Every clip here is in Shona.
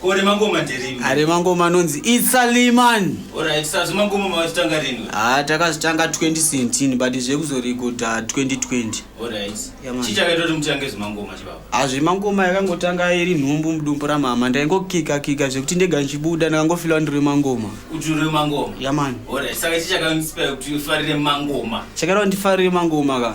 Ko remangoma nderini? Ah, remangoma anonzi Itsaliman. Alright, sir, zvemangoma mawazvitanga rini? Ah, takazvitanga 2017 but zvekuzorikoda 2020. Alright. Yeah, man. Chii chakaita kuti mutange zvemangoma chibaba? Ah, zvemangoma yakangotanga iri nhumbu mudumbu ramama. Ndaingokika kika zvekuti ndega ndichibuda ndakangofila ndiri remangoma. Kuti uri remangoma? Yeah, man. Alright, saka chii chakainspire kuti ufarire mangoma? Chakaita kuti ndifarire mangoma ka.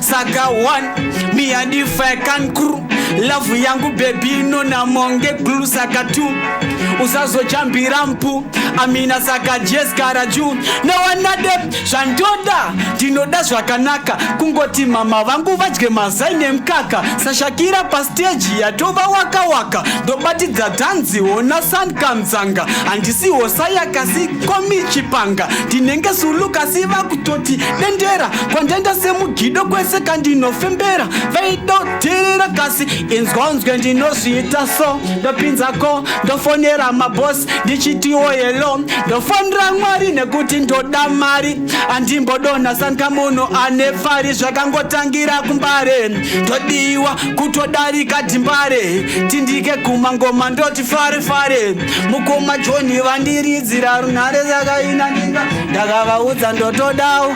saka one me and if i can crew love yangu bebi inona monge glu saka two usazojambira mpu amina saka jeskara ju nawanade zvandoda ndinoda zvakanaka kungoti mama vangu vadye mazai nemkaka sashakira pasteji yatova waka waka ndobatidza dhanzi hona san kamzanga handisi hosa yakasi komichipanga ndinenge sulu kasi vakutoti dendera kwandenda semugido kwese kandinofembera vaidoterera kasi inzwanzwe ndinozviita so ndopinzako ndofonera mabosi ndichitiwo helo ndofonera mwari nekuti ndoda mari andimbodonha sanka munhu ane pfari zvakangotangira kumbare ndodiwa kutodarika dimbare tindike guma ngoma ndoti fare fare mukoma joni vandiridzira runhare zakaina ndikavaudza ndotodawo